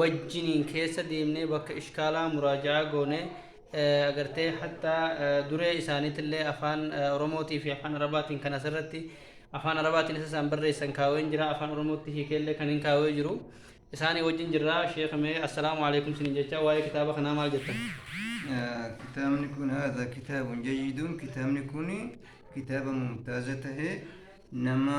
wajjiniin keessa deemnee bakka ishkaalaa muraaja'aa goone agartee hatta duree isaaniitillee afaan oromootii fi afaan arabaatiin kan asirratti afaan arabaatiin isa isaan barreessan kaaween jira afaan oromootti hiikeellee kan hin kaawee jiru isaanii wajjin jirra sheeka mee assalaamu alaikum sinin jecha waa'ee kitaaba kanaa maal jettan kitaabni kun haadha kitaabun jayyiduun kitaabni kun kitaaba mumtaaza tahee nama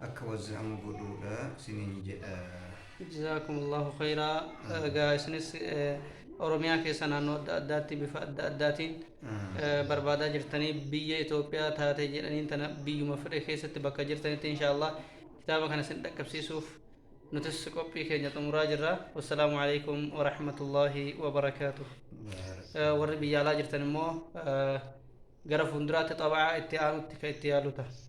akka wazza'amu godhuudha siniin jedha. Jazaakumullahu khayraa. Egaa isinis eh, Oromiyaa keessa naannoo adda addaatti bifa adda addaatiin eh, barbaadaa jirtanii biyya Itoophiyaa taate jedhaniin tana biyyuma fedhe keessatti bakka jirtanitti inshaallah kitaaba kana isin dhaqqabsiisuuf nutis qophii keenya xumuraa jirra. Wassalaamu alaikum wa rahmatullahi wa barakaatuh. Eh, Warri biyya alaa jirtan immoo eh, gara fuulduraatti xabaa itti aanutti kan itti yaalu ta'a.